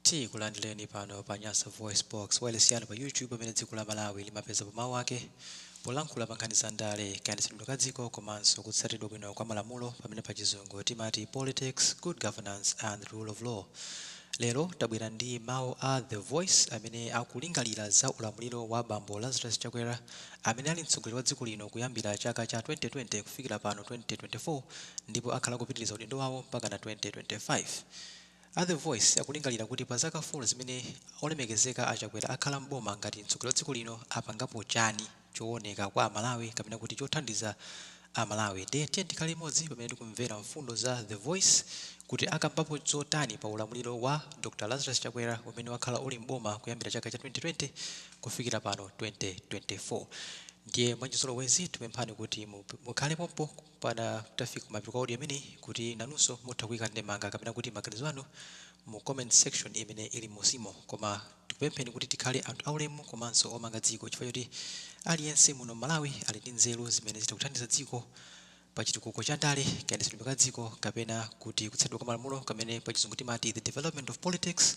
Tikulandileni pano pa Nyasa VoiceBox, wailesi yanu pa YouTube pamene dziko la Malawi limapezapo mawu ake polankhula pa nkhani za ndale, kayendetsedwe ka dziko komanso kutsatiridwa bwino kwa malamulo pamene pa chizungu timati politics, good governance and the rule of law. Lero tabwera ndi mawu a The Voice amene akulingalira za ulamuliro wa bambo Lazarus Chakwera amene ali mtsogoleri wa dziko lino kuyambira chaka cha 2020 kufikira pano 2024 ndipo akhala kupitiriza udindo wawo mpakana 2025. A The Voice akulingalira kuti pa zaka 4 zimene olemekezeka a Chakwera akhala m'boma ngati mtsogoleri wa dziko lino apangapo chani chowoneka kwa Amalawi kapena kuti chothandiza a Malawi. Ndiye tiyeni tikhale limodzi pamene tikumvera mfundo za The Voice kuti akambapo zotani pa ulamuliro wa Dr Lazarus Chakwera umene wakhala uli m'boma kuyambira chaka cha 2020 kufikira pano 2024. Ndiye mwachizolowezi tikupemphani kuti mukhale pompo mpakana titafika kumapeto kwa audio imeneyi kuti nanunso mutha kuika ndemanga kapena kuti maganizo anu mu comment section imene ili m'musimo koma tikupempheni kuti tikhale anthu aulemu komanso omanga dziko chifukwa choti aliyense muno m'Malawi ali ndi nzeru zimene zitha kuthandiza dziko pa chitukuko cha ndale, kayendetsedwe ka dziko kapena kuti kutsatidwa kwa malamulo kamene pachizungu timati the development of politics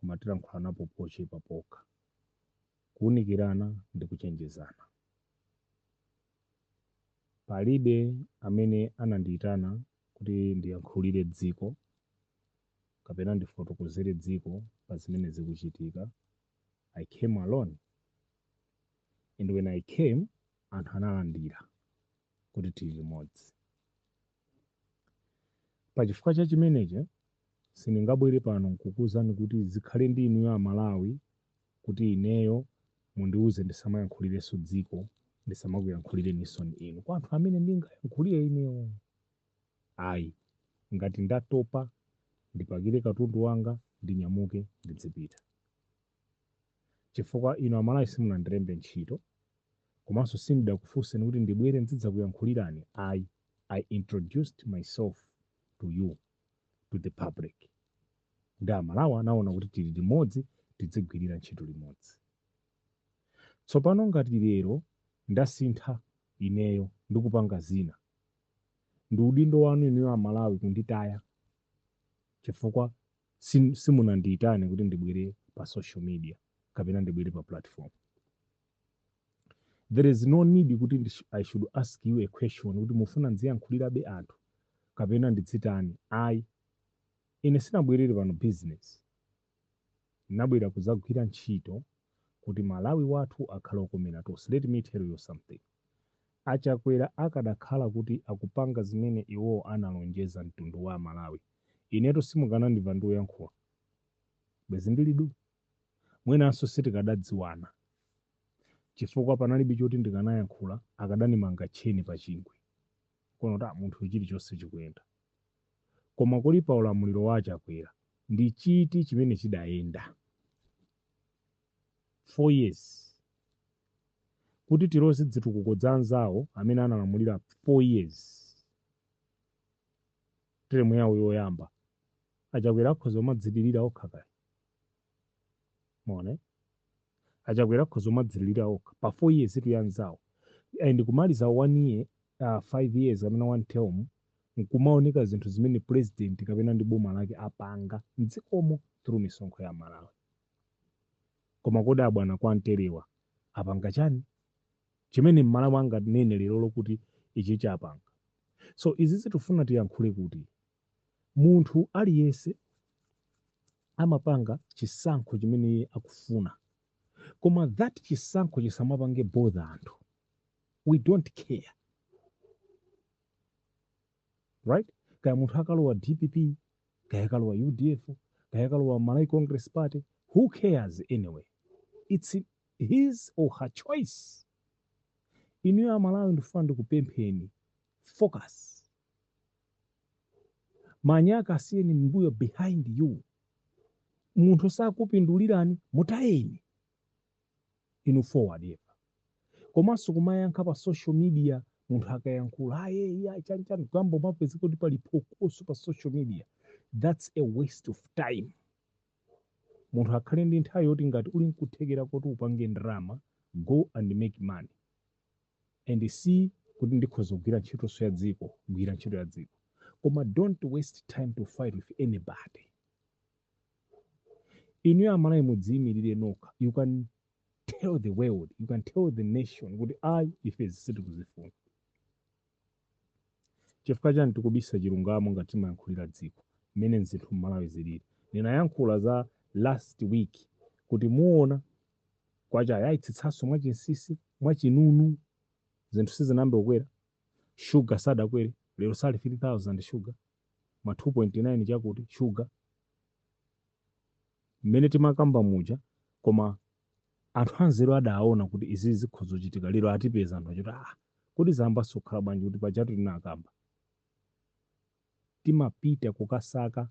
koma tilankhulanapo pochepa pokha, kuunikirana ndi kuchenjezana. Palibe amene anandiitana kuti ndiyankhulire dziko kapena ndifotokozere dziko pa zimene zikuchitika, I came alone and when I came anthu analandira kuti tili limodzi. Pa chifukwa cha chimenechi, sindingabwere pano nkukuuzani kuti zikhale ndi inuyo a Malawi kuti ineyo mundiuze ndisamayankhulirenso dziko, ndisamakuyankhulireninso inu. Kwa anthu amene ndingayankhulire ineyo, ayi. Ngati ndatopa, ndipakire katundu wanga, ndinyamuke, ndidzipita. chifukwa inu amalawi simunandilembe ntchito komanso sindidakufunseni kuti ndibwere ndzidzakuyankhulirani ayi i introduced myself to you to the public ndi amalawi anaona kuti tili limodzi tidzigwirira ntchito limodzi tsopano ngati lero ndasintha ineyo ndikupanga zina ndi udindo wanu inuyo amalawi kunditaya chifukwa simunandiitane kuti ndibwere pa social media kapena ndibwere pa platform there is no need kuti i should ask you a question kuti mufuna ndiziyankhulirabe anthu kapena ndidzitani ayi ine sinabwerere pano business nabwera kuzagwira ntchito kuti malawi wathu akhale okomera tonse let me tell you something achakwera akadakhala kuti akupanga zimene iwo analonjeza mtundu wa malawi Inetu simukanandimva ndikuyankhula. Bwezi ndili du. Mwinanso sitikadadziwana chifukwa panalibe choti ndikanayankhula akadanimanga tcheni pachingwe. Nkuona kuti a munthu uyu chilichonse chikuyenda. Koma kodi pa ulamuliro wa a Chakwera ndi chiti chimene chidayenda? 4 years. Kuti tiloze dzitukuko dza anzawo amene analamulira 4 years. term yawo yoyamba achakwera akhoza kumadzilirira okha kaya mwaona achakwera akhoza kumadzilirira okha pa 4 years itu yanzawo and kumaliza 1 year uh, 5 years kapena 1 term nkumaoneka zinthu zimene president kapena ndi boma lake apanga mdzikomo through misonkho ya Amalawi koma kodi abwana kwa mterewa apanga chani Chimene m'malawi anganene lerolo kuti ichi chapanga. So izizi tufuna tiyankhule kuti munthu aliyense amapanga chisankho chimene iye akufuna koma that chisankho chisamapange bother anthu we don't care right kaya munthu akalowa dpp kaya akalowa udf kaya akalowa malawi congress party who cares anyway it's his or her choice inuyo amalawi ndifuna ndikupempheni focus manyaka asiyeni mbuyo behind you munthu sakupindulirani mutayeni inu forward ever komanso kumayankha pa social media munthu akayankhula aye iya chanchani kuyamba kumapezeka kuti pali phokoso pa social media that's a waste of time munthu akhale ndi nthawi yoti ngati uli nkuthekera koti upange ndalama go and make money and see kuti ndikhoza kugwira ntchitonso ya dziko gwira ntchito ya dziko koma don't waste time to fight with anybody inuyo Amalawi mudziyimirire nokha you can tell the world you can tell the nation kuti ayi ife izi sitikuzifuna Chifukwa chani tikubisa chilungamo ngati timayankhulira dziko mmene zinthu mmalawi zilili. Ndinayankhula za last week kuti muona kwacha ayaitsitsanso mwachinsinsi, mwachinunu zinthu sizinayambe kukwera, sugar sadakwere lero sali 3000 sugar ma 2.9 chakuti sugar mmene timakamba muja koma. Anthu anzeru adaona kuti izi zikhoza kuchitika lero atipeza anthu achoti aah kodi zayambanso kukhala bwanji kuti pajatu tinakamba. Timapita kukasaka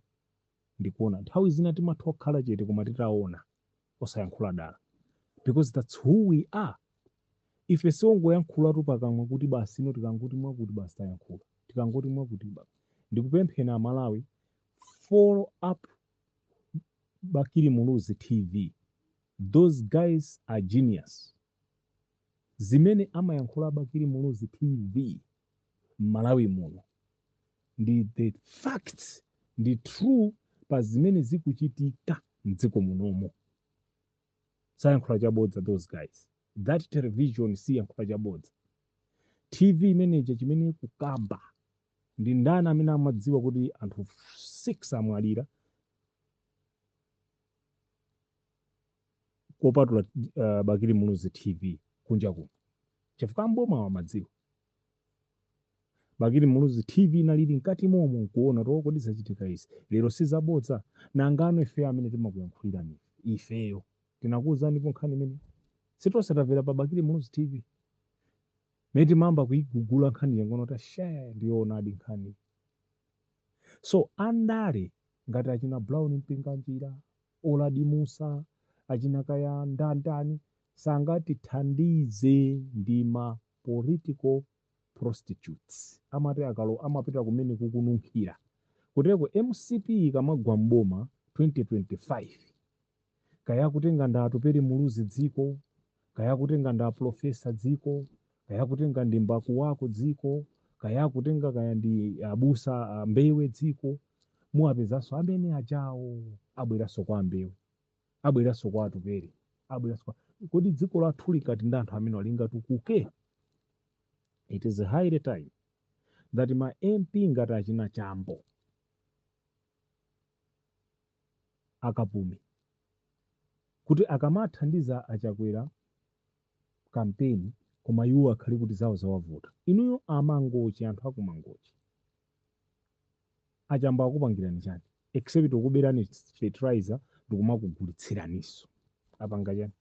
ndikuona. Nthawi zina timatha kukhala chete koma titaona osayankhula dala because that's who we are. Ife siongoyankhulatu pakamwa kuti basi ino tikangoti mwakuti basi tayankhula. Tikangoti mwakuti basi. Ndikupempheni Amalawi follow up bakili muluzi tv those guys are genius zimene amayankhula a bakili muluzi tv m'malawi muno ndi the facts ndi true pa zimene zikuchitika mdziko munomo sayankhula chabodza those guys that television siyankhula chabodza tv imeneja chimene kukamba Ndi ndani amene amadziwa kuti anthu 6 amwalira kopatula uh, Bakili Muluzi TV kunja kuno chifukwa mboma amadziwa Bakili Muluzi TV inalili mkati momo nkuona kuti kodi zachitika izi lero sizabodza nangano ife amene timakuyankhulirani ifeyo tinakuwuzanipo nkhani imene sitonse tamvera pa Bakili Muluzi TV Mene timayamba kuigugula nkhani yangono ta share ndiyoonadi nkhani. So andale ngati achina Brown Mpinganjira, Uladi Mussa, achina kaya ndandani sangatithandize ndi ma political prostitutes amatiakalo amapita kumene kukununkhira. Kuteroko mcp ikamagwa m'boma 2025 kaya akutenga ndi Atupele Muluzi dziko, kaya akutenga ndi Professor dziko, kaya akutenga ndi Mbakuwaku dziko, kaya akutenga kaya ndi abusa a Mbewe dziko, muwapezanso amene ajawo abweranso kwa Mbewe, abweranso kwa Atupele, abweranso kwa kodi dziko lathu likakhala ndi anthu amene lingatukuke? It is high time that ma MP ngati achina Chambo a Kapumi kuti akamathandiza a Chakwera campaign koma iwo akhala kuti zawo zawavuta. Inuyo a Mangochi anthu aku Mangochi a Chambo akupangirani chani except kukuberani fertilizer ndikumakugulitsiraninso. Apanga chani?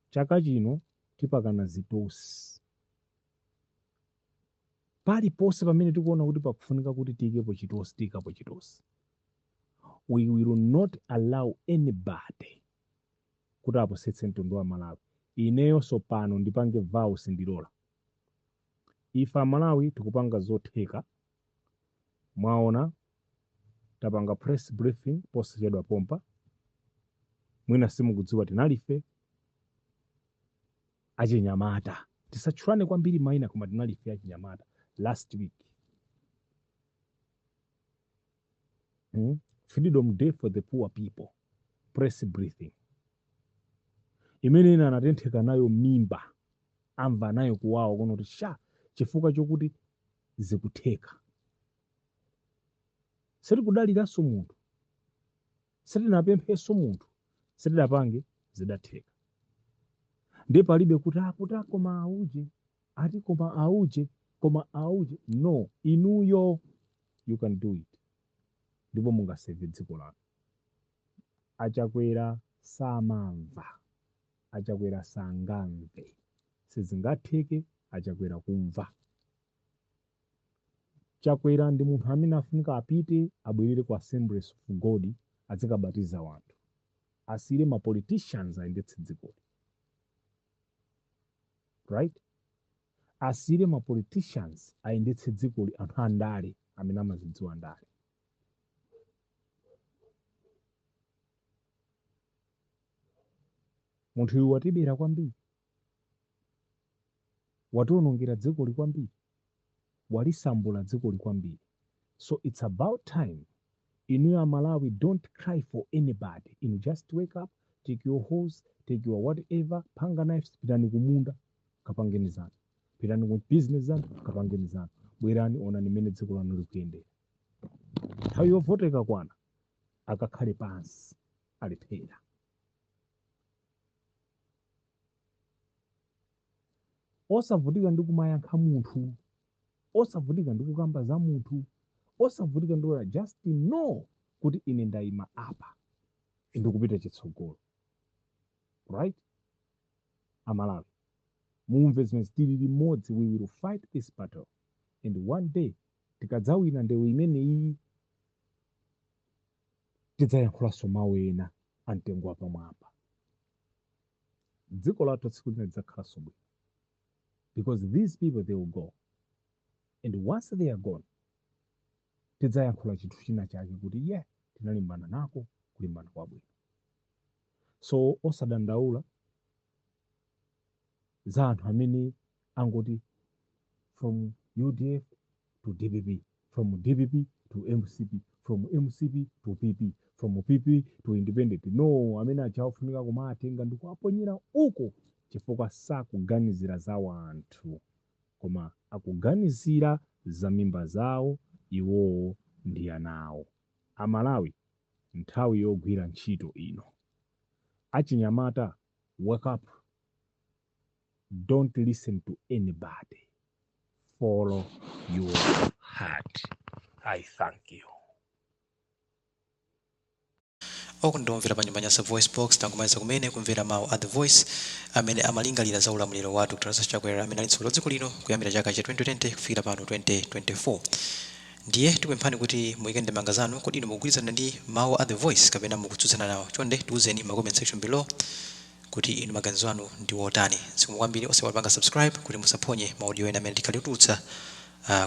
Chaka chino tipakana zitosi. paliponse pamene tikuona kuti pakufunika kuti tiyikepo chitosi tiyikapo chitosi we will not allow anybody kuti apusitse mtundu wa malawi ineyonso pano ndipange vow sindilola ife amalawi tikupanga zotheka mwaona tapanga press briefing posachedwa pompa mwina simukudziwa tinalife achinyamata. Tisatchulane kwambiri maina koma tinali ife achinyamata last week mm? freedom day for the poor people press briefing imene ena anatentheka nayo mimba amva nayo kuwawa kuona kuti sha chifukwa chokuti zikutheka sitikudaliranso munthu sitinapemphenso munthu sitinapange zidatheka ndiye palibe kuti akuti "Ah, koma auje ati koma auje koma auje no inuyo you can do it ndipo mungaseve dziko lanu achakwera samamva achakwera sangamve sizingatheke achakwera kumva Chakwera ndi munthu amene afunika apite abwelere ku Assemblies of God adzikabatiza wanthu. Asiyire ma politicians ayendetse dzikoli. Right? Asiyire ma politicians ayendetse dzikoli anthu a ndale amene amazidziwa ndale. Munthu uyu watibera kwambiri. Wationongera dzikoli kwambiri. Walisambula dzikoli kwambiri. So it's about time inuyo a Malawi don't cry for anybody inu just wake up take your hoes, take your whatever panga knives pitani kumunda kapangeni zanu. Pitani ku business zanu kapangeni zanu. Bwerani onani mmene dziko lanu likuyendera. Nthawi yovota ikakwana akakhale pansi alephera. osavutika ndi kumayankha munthu osavutika ndi kukamba za munthu osavutika ndi ora just know kuti ine ndayima apa ndikupita chitsogolo right amalawi mumve zimene tili limodzi we will fight this battle and one day tikadzawina ndewu imeneyi tidzayankhulanso mawu ena amtengo wapamwamba. Dziko lathu tsiku lina lidzakhalanso bwino because these people they will go and once they are gone tidzayankhula chinthu china chake kuti yeah tinalimbana nako kulimbana kwabwino. So osadandaula za anthu amene angoti from UDF to dpp, from dpp to mcp, from mcp to pp, from pp to independent. No, amene aja ofunika kuwatenga ndi kuwaponyera uko chifukwa sakuganizira za wanthu koma akuganizira za mimba zawo iwowo ndi ana awo. Amalawi, nthawi yogwira ntchito ino. Achinyamata, wake up. Don't listen to anybody. follow your heart. I thank you. okondedwa omvera pa nyumba nyasa voice box tangomaliza kumene kumvera mawu a the voice amene amalingalira za ulamuliro wa dr lazarus chakwera amene ali mtsogoleri wa dziko lino kuyambira chaka cha 2020 kufikira pano 2024 ndiye tikupemphani kuti muyike ndemanga zanu kodi inu mukugwirizana ndi mawu a the voice kapena mukutsutsana nawo chonde tiuzeni mu comment section below kuti inu maganizo anu ndi wotani. Zikomo kwambiri osaiwala kupanga subscribe kuti musaphonye ma audio ena amene tikhale tikutulutsa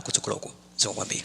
kutsogoloku. Zikomo kwambiri.